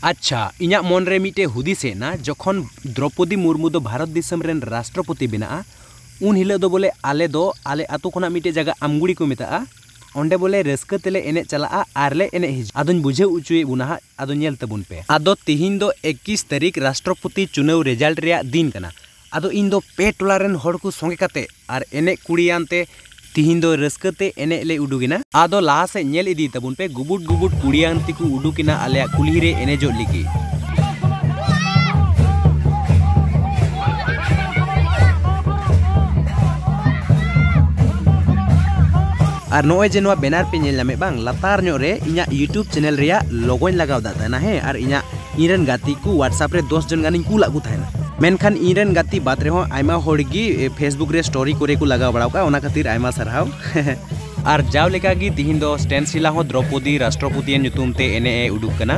ᱟᱪᱪᱷᱟ ᱤᱧᱟᱹᱜ ᱢᱚᱱ ᱨᱮ ᱢᱤᱫᱴᱮᱱ ᱦᱩᱫᱤᱥ ᱦᱮᱡ ᱮᱱᱟ ᱡᱚᱠᱷᱚᱱ ᱫᱨᱳᱯᱚᱫᱤ ᱢᱩᱨᱢᱩ ᱫᱚ ᱵᱷᱟᱨᱚᱛ ᱫᱤᱥᱚᱢ ᱨᱮᱱ ᱨᱟᱥᱴᱨᱚᱯᱚᱛᱤ ᱵᱮᱱᱟᱜᱼᱟ ᱩᱱ ᱦᱤᱞᱳᱜ ᱫᱚ ᱵᱚᱞᱮ ᱟᱞᱮ ᱫᱚ ᱟᱞᱮ ᱟᱹᱛᱩ ᱠᱷᱚᱱᱟᱜ ᱢᱤᱫᱴᱮᱱ ᱡᱟᱭᱜᱟ ᱟᱢᱜᱩᱲᱤ ᱠᱚ ᱢᱮᱛᱟᱜᱼᱟ ᱚᱸᱰᱮ ᱵᱚᱞᱮ ᱨᱟᱹᱥᱠᱟᱹ ᱛᱮᱞᱮ ᱮᱱᱮᱡ ᱪᱟᱞᱟᱜᱼᱟ ᱟᱨ ᱞᱮ ᱮᱱᱮᱡ ᱦᱤᱡᱩᱜᱼᱟ ᱟᱫᱚᱧ ᱵᱩᱡᱷᱟᱹᱣ ᱚᱪᱚᱭᱮᱫ ᱵᱚᱱᱟ ᱦᱟᱸᱜ ᱟᱫᱚ ᱧᱮᱞ ᱛᱟᱵᱚᱱ ᱯᱮ ᱟᱫᱚ ᱛᱮᱦᱮᱧ ᱫᱚ ᱮᱠᱤᱥ ᱛᱟᱹᱨᱤᱠᱷ ᱨᱟᱥᱴᱨᱚᱯᱚᱛᱤ ᱪᱩᱱᱟᱹᱣ ᱨᱮᱡᱟᱞᱴ ᱨᱮᱭᱟᱜ ᱫᱤᱱ ᱠᱟᱱᱟ ᱟᱫᱚ ᱤᱧ ᱫᱚ ᱯᱮ ᱴᱚᱞᱟ ᱨᱮᱱ ᱦᱚᱲ ᱠᱚ ᱥᱚᱸᱜᱮ ᱠᱟᱛᱮ ᱟᱨ ᱮᱱᱮᱡ ᱠᱩᱲᱤᱭᱟᱱ ᱛᱮ ᱛᱤᱦᱤᱧ ᱫᱚ ᱨᱟᱹᱥᱠᱟᱹ ᱛᱮ ᱮᱱᱮᱡ ᱞᱮ ᱩᱰᱩᱠ ᱮᱱᱟ᱾ ᱟᱫᱚ ᱞᱟᱦᱟ ᱥᱮᱡ ᱧᱮᱞ ᱤᱫᱤᱭ ᱛᱟᱵᱚᱱ ᱯᱮ ᱜᱩᱵᱩᱰ ᱜᱩᱵᱩᱰ ᱠᱩᱲᱤᱭᱟᱱ ᱛᱮᱠᱚ ᱩᱰᱩᱠ ᱮᱱᱟ ᱟᱞᱮᱭᱟᱜ ᱠᱩᱞᱦᱤ ᱨᱮ ᱮᱱᱮᱡᱚᱜ ᱞᱟᱹᱜᱤᱫ᱾ ᱟᱨ ᱱᱚᱜᱼᱚᱭ ᱡᱮ ᱱᱚᱣᱟ ᱵᱮᱱᱟᱨ ᱯᱮ ᱧᱮᱞ ᱧᱟᱢᱮᱫ ᱵᱟᱝ ᱞᱟᱛᱟᱨ ᱧᱚᱜ ᱨᱮ ᱤᱧᱟᱜ ᱭᱩᱴᱩᱵᱽ ᱪᱮᱱᱮᱞ ᱨᱮᱭᱟᱜ ᱞᱚᱜᱚᱧ ᱞᱟᱜᱟᱣ ᱫᱟᱜ ᱛᱟᱦᱮᱱᱟ ᱦᱮᱸ ᱟᱨ ᱤᱧᱟᱜ ᱤᱧᱨᱮᱱ ᱜᱟᱛᱮ ᱠᱚ ᱣᱟᱴᱥᱟᱯ ᱨᱮ ᱫᱚᱥ ᱡᱚᱱ ᱜᱟᱱᱤᱧ ᱠᱩᱞᱟᱜ ᱠᱚ ᱛᱟᱦᱮᱱᱟ ᱢᱮᱱᱠᱷᱟᱱ ᱤᱧᱨᱮᱱ ᱜᱟᱛᱮ ᱵᱟᱫ ᱨᱮᱦᱚᱸ ᱟᱭᱢᱟ ᱦᱚᱲ ᱜᱮ ᱯᱷᱮᱥᱵᱩᱠ ᱨᱮ ᱥᱴᱳᱨᱤ ᱠᱚᱨᱮ ᱠᱚ ᱞᱟᱜᱟᱣ ᱵᱟᱲᱟᱣ ᱠᱟᱜᱼᱟ ᱚᱱᱟ ᱠᱷᱟᱹᱛᱤᱨ ᱟᱭᱢᱟ ᱥᱟᱨᱦᱟᱣ ᱟᱨ ᱡᱟᱣ ᱞᱮᱠᱟ ᱜᱮ ᱛᱤᱦᱤᱧ ᱫᱚ ᱥᱴᱮᱱ ᱥᱤᱞᱟ ᱦᱚᱸ ᱫᱨᱚᱯᱚᱫᱤ ᱨᱟᱥᱴᱨᱚᱯᱚᱛᱤᱭᱟᱜ ᱧᱩᱛᱩᱢ ᱛᱮ ᱮᱱᱮᱡ ᱮ ᱩᱰᱩᱠ ᱠᱟᱱᱟ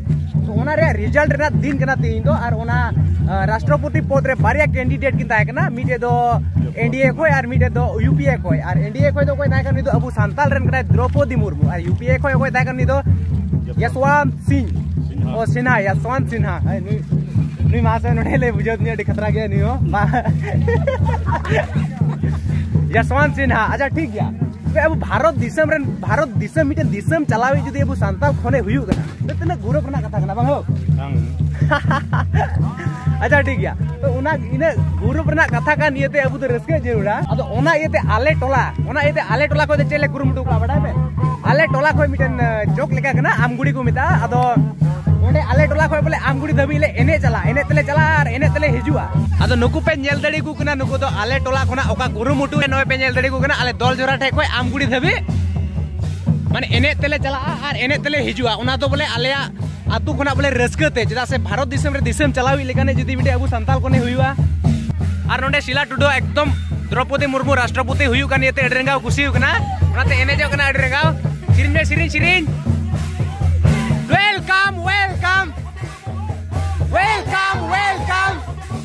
ᱛᱚ ᱚᱱᱟ ᱨᱮᱭᱟᱜ ᱨᱮᱡᱟᱞᱴ ᱨᱮᱱᱟᱜ ᱫᱤᱱ ᱠᱟᱱᱟ ᱛᱮᱦᱮᱧ ᱫᱚ ᱟᱨ ᱚᱱᱟ ᱨᱟᱥᱴᱨᱚᱯᱚᱛᱤ ᱯᱚᱫ ᱨᱮ ᱵᱟᱨᱭᱟ ᱠᱮᱱᱰᱤᱰᱮᱴ ᱠᱤᱱ ᱛᱟᱦᱮᱸ ᱠᱟᱱᱟ ᱢᱤᱫᱴᱮᱡ ᱫᱚ ᱮᱱᱰᱤᱮ ᱠᱷᱚᱡ ᱟᱨ ᱢᱤᱫᱴᱮᱡ ᱫᱚ ᱭᱩᱯᱤᱮ ᱠᱷᱚᱡ ᱟᱨ ᱮᱱᱰᱤᱮ ᱠᱷᱚᱡ ᱫᱚ ᱚᱠᱚᱭ ᱛᱟᱦᱮᱸ ᱠᱟᱱᱟ ᱩᱱᱤ ᱫᱚ ᱟᱵᱚ ᱥᱟᱱᱛᱟᱞ ᱨᱮᱱ ᱠᱟᱱᱟᱭ ᱫᱨᱚᱯᱚᱫᱤ ᱢᱩᱨᱢᱩ ᱟᱨ ᱭᱩᱯᱤᱮ ᱠᱷᱚᱡ ᱚᱠᱚᱭ ᱛᱟᱦᱮᱸ ᱠᱟᱱᱟ ᱩᱱᱤ ᱫᱚ ᱭᱟᱥᱣᱟᱱ ᱥᱤᱝ ᱚ ᱥᱤᱱᱦᱟ ᱭᱟᱥᱣᱟᱱ ᱥᱤᱱᱦᱟ ᱱᱩᱭ ᱱᱩᱭ ᱢᱟᱥᱮ ᱱᱚᱰᱮ ᱞᱮ ᱵᱩᱡᱷᱟᱹᱣ ᱫᱤᱧᱟ ᱟᱹᱰᱤ ᱠᱷᱟᱛᱨᱟ ᱜᱮᱭᱟ ᱱᱩᱭ ᱦᱚᱸ ᱭᱟᱥᱣᱟᱱ ᱥᱤᱱᱦᱟ ᱟᱪᱪᱷᱟ ᱴᱷᱤᱠ ᱜᱮᱭᱟ ᱛᱚᱵᱮ ᱟᱵᱚ ᱵᱷᱟᱨᱚᱛ ᱫᱤᱥᱚᱢ ᱨᱮᱱ ᱵᱷᱟᱨᱚᱛ ᱫᱤᱥᱚᱢ ᱢᱤᱫᱴᱮᱱ ᱫᱤᱥᱚᱢ ᱪᱟᱞᱟᱣᱤᱡ ᱡᱩᱫᱤ ᱟᱵᱚ ᱥᱟᱱᱛᱟᱲ ᱠᱷᱚᱱᱮ ᱦᱩᱭᱩᱜ ᱠᱟᱱᱟ ᱛᱚ ᱛᱤᱱᱟᱹᱜ ᱜᱩᱨᱚᱵ ᱨᱮᱱᱟᱜ ᱠᱟᱛᱷᱟ ᱠᱟᱱᱟ ᱵᱟᱝ ᱦᱳ ᱟᱪᱪᱷᱟ ᱴᱷᱤᱠ ᱜᱮᱭᱟ ᱛᱚ ᱚᱱᱟ ᱤᱱᱟᱹᱜ ᱜᱩᱨᱩᱯ ᱨᱮᱱᱟᱜ ᱠᱟᱛᱷᱟ ᱠᱟᱱ ᱤᱭᱟᱹᱛᱮ ᱟᱵᱚ ᱫᱚ ᱨᱟᱹᱥᱠᱟᱹ ᱡᱟᱹᱨᱩᱲᱟ ᱟᱫᱚ ᱚᱱᱟ ᱤᱭᱟᱹᱛᱮ ᱟᱞᱮ ᱴᱚᱞᱟ ᱚᱱᱟ ᱤᱭᱟᱹᱛᱮ ᱟᱞᱮ ᱴᱚᱞᱟ ᱠᱷᱚᱱ ᱪᱮᱫ ᱞᱮ ᱠᱩᱨᱩᱢᱩᱴᱩ ᱠᱟᱜᱼᱟ ᱵᱟᱰᱟᱭ ᱯᱮ ᱟᱞᱮ ᱴᱚᱞᱟ ᱠᱷᱚᱱ ᱢᱤᱫᱴᱮᱱ ᱡᱳᱠ ᱞᱮᱠᱟ ᱠᱟᱱᱟ ᱟᱢᱜᱩᱲᱤ ᱠᱚ ᱢᱮᱛᱟᱜᱼᱟ ᱟᱫᱚ ᱚᱸᱰᱮ ᱟᱞᱮ ᱴᱚᱞᱟ ᱠᱷᱚᱱ ᱵᱚᱞᱮ ᱟᱢᱜᱩᱲᱤ ᱫᱷᱟᱹᱵᱤᱡ ᱞᱮ ᱮᱱᱮᱡ ᱪᱟᱞᱟᱜᱼᱟ ᱮᱱᱮᱡ ᱛᱮᱞᱮ ᱪᱟᱞᱟᱜᱼᱟ ᱟᱨ ᱮᱱᱮᱡ ᱛᱮᱞᱮ ᱦᱤᱡᱩᱜᱼᱟ ᱟᱫᱚ ᱱᱩᱠᱩ ᱯᱮ ᱧᱮᱞ ᱫᱟᱲᱮ ᱠᱟᱱᱟ ᱱᱩᱠᱩ ᱫᱚ ᱟᱞᱮ ᱴᱚᱞᱟ ᱠᱷᱚᱱᱟᱜ ᱚᱠᱟ ᱠᱩᱨᱩᱢᱩᱴᱩ ᱨᱮ ᱱᱚᱜᱼᱚᱭ ᱯᱮ ᱧᱮᱞ ᱫᱟᱲᱮ ᱠᱚ ᱠᱟᱱᱟ ᱟᱞᱮ ᱫᱚᱞ ᱡᱚᱨᱟ ᱴᱷᱮᱡ ᱠᱷᱚᱡ ᱟᱢᱜᱩᱲᱤ ᱫᱷᱟᱹᱵᱤᱡ ᱢᱟᱱᱮ ᱮᱱᱮᱡ ᱛᱮᱞᱮ ᱪᱟᱞᱟᱜᱼᱟ ᱟᱨ ᱮᱱᱮᱡ ᱛᱮᱞᱮ ᱦᱤᱡᱩᱜᱼᱟ ᱚᱱᱟ ᱫᱚ ᱵᱚᱞᱮ ᱟᱞᱮᱭᱟᱜ ᱟᱛᱳ ᱠᱷᱚᱱᱟᱜ ᱵᱚᱞᱮ ᱨᱟᱹᱥᱠᱟᱹ ᱛᱮ ᱪᱮᱫᱟᱜ ᱥᱮ ᱵᱷᱟᱨᱚᱛ ᱫᱤᱥᱚᱢ ᱨᱮ ᱫᱤᱥᱚᱢ ᱪᱟᱞᱟᱣ ᱦᱩᱭ ᱞᱮᱠᱟᱱᱮ ᱡᱩᱫᱤ ᱢᱤᱫᱴᱮᱡ ᱟᱵᱚ ᱥᱟᱱᱛᱟᱞ ᱠᱚᱱᱮ ᱦᱩᱭᱩᱜᱼᱟ ᱟᱨ ᱱᱚᱰᱮ ᱥᱤᱞᱟ ᱴᱩᱰᱩ ᱮᱠᱫᱚᱢ ᱫᱨᱚᱯᱚᱫᱤ ᱢᱩᱨᱢᱩ ᱨᱟᱥᱴᱨᱚᱯᱚᱛᱤ ᱦᱩᱭᱩᱜ ᱠᱟᱱ ᱤᱭᱟᱹᱛᱮ ᱟᱹᱰᱤ ᱨᱮᱸᱜᱟᱣ ᱠᱩᱥᱤ ᱦᱩᱭᱩᱜ ᱠᱟᱱᱟ ᱚᱱᱟᱛᱮ ᱮᱱᱮᱡᱚᱜ ᱠᱟᱱᱟ ᱟᱹᱰᱤ ᱨᱮᱸᱜᱟᱣ ᱥᱮᱨᱮᱧ ᱢᱮ ᱥᱮᱨᱮᱧ ᱥᱮᱨᱮᱧ ᱳᱭᱮᱞᱠᱟᱢ ᱳᱭᱮᱞᱠᱟᱢ ᱳᱭᱮᱞᱠᱟᱢ ᱳᱭᱮᱞᱠᱟᱢ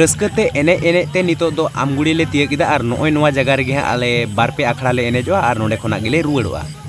ᱨᱟᱹᱥᱠᱟᱹᱛᱮ ᱮᱱᱮᱡ ᱮᱱᱮᱡ ᱛᱮ ᱱᱤᱛᱚᱜ ᱫᱚ ᱟᱢᱜᱩᱲᱤ ᱞᱮ ᱛᱤᱭᱟᱹᱜ ᱠᱮᱫᱟ ᱟᱨ ᱱᱚᱜᱼᱚᱭ ᱱᱚᱣᱟ ᱡᱟᱭᱜᱟ ᱨᱮᱜᱮ ᱦᱟᱸᱜ ᱟᱞᱮ ᱵᱟᱨ ᱯᱮ ᱟᱠᱷᱲᱟ ᱞᱮ ᱮᱱᱮᱡᱚᱜᱼᱟ ᱟᱨ ᱱᱚᱸᱰᱮ ᱠᱷᱚᱱᱟᱜ ᱜᱮᱞᱮ ᱨᱩᱣᱟᱹᱲᱚᱜᱼᱟ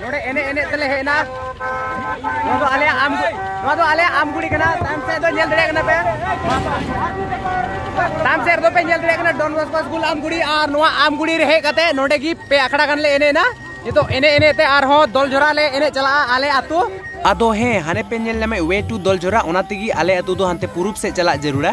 ᱱᱚᱰᱮ ᱮᱱᱮᱡ ᱮᱱᱮᱡ ᱛᱮᱞᱮ ᱦᱮᱡ ᱮᱱᱟ ᱱᱚᱣᱟ ᱫᱚ ᱟᱞᱮᱭᱟᱜ ᱟᱢ ᱱᱚᱣᱟ ᱫᱚ ᱟᱞᱮᱭᱟᱜ ᱟᱢ ᱜᱩᱲᱤ ᱠᱟᱱᱟ ᱛᱟᱭᱚᱢ ᱥᱮᱫ ᱫᱚ ᱧᱮᱞ ᱫᱟᱲᱮᱭᱟᱜ ᱠᱟᱱᱟ ᱯᱮ ᱛᱟᱭᱚᱢ ᱥᱮᱫ ᱨᱮᱫᱚ ᱯᱮ ᱧᱮᱞ ᱫᱟᱲᱮᱭᱟᱜ ᱠᱟᱱᱟ ᱰᱚᱱ ᱵᱚᱥᱠᱚ ᱥᱠᱩᱞ ᱟᱢ ᱜᱩᱲᱤ ᱟᱨ ᱱᱚᱣᱟ ᱟᱢ ᱜᱩᱲᱤ ᱨᱮ ᱦᱮᱡ ᱠᱟᱛᱮ ᱱᱚᱰᱮ ᱜᱮ ᱯᱮ ᱟᱠᱷᱲᱟ ᱜᱟᱱ ᱞᱮ ᱮᱱᱮᱡ ᱮᱱᱟ ᱱᱤᱛᱚᱜ ᱮᱱᱮᱡ ᱮᱱᱮᱡ ᱛᱮ ᱟᱨᱦᱚᱸ ᱫᱚᱞ ᱡᱷᱚᱨᱟ ᱞᱮ ᱮᱱᱮᱡ ᱪᱟᱞᱟᱜᱼᱟ ᱟᱞᱮ ᱟᱛᱳ ᱟᱫᱚ ᱦᱮᱸ ᱦᱟᱱᱮ ᱯᱮ ᱧᱮᱞ ᱧᱟᱢᱮᱫ ᱣᱮ ᱴᱩ ᱫᱚᱞ ᱡᱷᱚᱨᱟ ᱚᱱᱟ ᱛᱮᱜᱮ ᱟᱞᱮ ᱟᱛᱳ ᱫᱚ ᱦᱟᱱᱛᱮ ᱯᱩᱨᱩᱵ ᱥᱮᱫ ᱪᱟᱞᱟᱜ ᱡᱟᱹᱨᱩᱲᱟ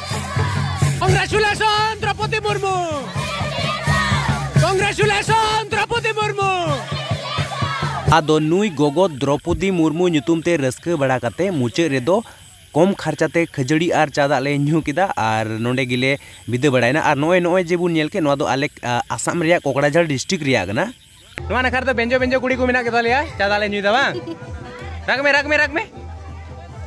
Congratulations, Draupadi Murmu! Congratulations, Draupadi Murmu! ᱟᱫᱚ ᱱᱩᱭ ᱜᱚᱜᱚ ᱫᱨᱚᱯᱚᱫᱤ ᱢᱩᱨᱢᱩ ᱧᱩᱛᱩᱢ ᱛᱮ ᱨᱟᱹᱥᱠᱟᱹ ᱵᱟᱲᱟ ᱠᱟᱛᱮ ᱢᱩᱪᱟᱹᱫ ᱨᱮᱫᱚ ᱠᱚᱢ ᱠᱷᱟᱨᱪᱟ ᱛᱮ ᱠᱷᱟᱹᱡᱟᱹᱲᱤ ᱟᱨ ᱪᱟ ᱫᱟᱜ ᱞᱮ ᱧᱩ ᱠᱮᱫᱟ ᱟᱨ ᱱᱚᱸᱰᱮ ᱜᱮᱞᱮ ᱵᱤᱫᱟᱹ ᱵᱟᱲᱟᱭᱮᱱᱟ ᱟᱨ ᱱᱚᱜᱼᱚᱭ ᱱᱚᱜᱼᱚᱭ ᱡᱮ ᱵᱚᱱ ᱧᱮᱞ ᱠᱮᱫ ᱱᱚᱣᱟ ᱫᱚ ᱟᱞᱮ ᱟᱥᱟᱢ ᱨᱮᱭᱟᱜ ᱠᱚᱠᱲᱟᱡᱷᱟᱲ ᱰᱤᱥᱴᱨᱤᱠᱴ ᱨᱮᱭᱟᱜ ᱠᱟᱱᱟ ᱱᱚᱣᱟ ᱱᱟᱠᱷᱟ ᱨᱮᱫᱚ ᱵᱮᱸᱡᱚ ᱵᱮᱸᱡᱚ ᱠᱩᱲᱤ ᱠᱚ ᱢᱮᱱᱟᱜ ᱠᱮᱫᱟ ᱞᱮᱭᱟ ᱪᱟ ᱫᱟᱜ ᱞᱮ ᱧᱩᱭᱫᱟ ᱵᱟᱝ ᱨᱟᱜᱽ ᱢᱮ ᱨᱟᱜᱽ ᱢᱮ ᱨᱟᱜᱽ ᱢᱮ